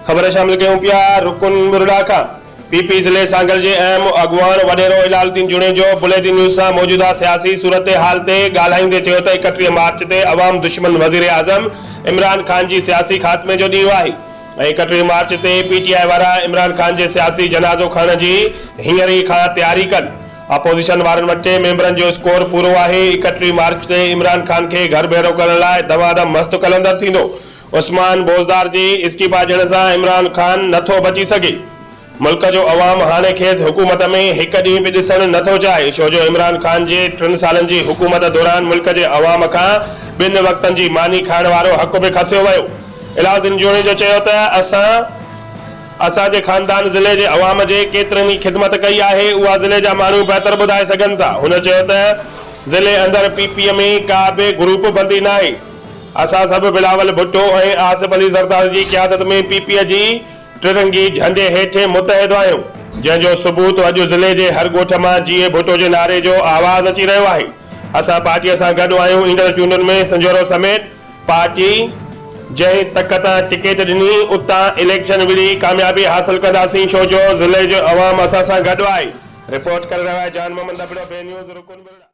خبر شامل ڪيون پيا رڪن ٻرڙا کان پي پي ضلعي سانگل جي اهم اڳواڻ وڏيرو هلال الدين جوڻيجو بليدي نيوز سان موجوده سياسي صورتحال تي ڳالهائيندي چيو ته اڪٽيهه مارچ تي عوام دشمن وزيراعظم عمران خان جي سياسي خاتمي جو ڏينهن آهي ايڪٽيهين مارچ تي پي ٽي آء وارا عمران خان جي سياسي جنازو کڻڻ جي هينئر ئي کان تياري ڪن، اپوزيشن وارن وٽ ٽي ميمبرن جو اسڪور پورو آهي، ايڪٽيهين مارچ تي عمران خان کي گهر ڀيڙو ڪرڻ لاء دما دم مست قلندر ٿيندو، عثمان بوزدار جي استعيفا ڏيڻ سان عمران خان نٿو بچي سگهي. ملڪ جو عوام هاڻي کيس حڪومت ۾ هڪ ڏينهن به ڏسڻ نه ٿو چاهي ڇو جو عمران خان جي ٽن سالن جي حڪومت دوران ملڪ جي عوام کان ٻن وقتن جي ماني کائڻ وارو حق به کسيو ويو. علاؤ الدين جوڻيجو چيو ته اسان اسان جي خاندان ضلعي جي عوام جي ڪيترن ئي خدمت ڪئي آهي اها ضلعي جا ماڻهو بهتر ٻڌائي سگهن ٿا هن چيو ته ضلعي اندر پي پي ۾ ڪا به گروپ بندي ناهي اسان سڀ بلاول ڀٽو ۽ آصف علي زرداري جي قيادت ۾ پي پي جي ٽرنگي جهنڊي هيٺين متحد آهيون، جنهن جو ثبوت اڄ ضلعي جي هر ڳوٺ مان جيئي ڀٽو جي نعري جو آواز اچي رهيو آهي، اسان پارٽيء سان گڏ آهيون، ايندڙ چونڊن ۾ سنجهورو سميت پارٽي جنهن تڪ تان ٽڪيٽ ڏني اتان اليڪشن وڙهي ڪاميابي حاصل ڪنداسين، ڇو جو ضلعي جو عوام اسان سان گڏ آهي. رپورٽ ڪري رهيو آهي جان محمد ابڙو، بي نيوز، رڪن ٻرڙا.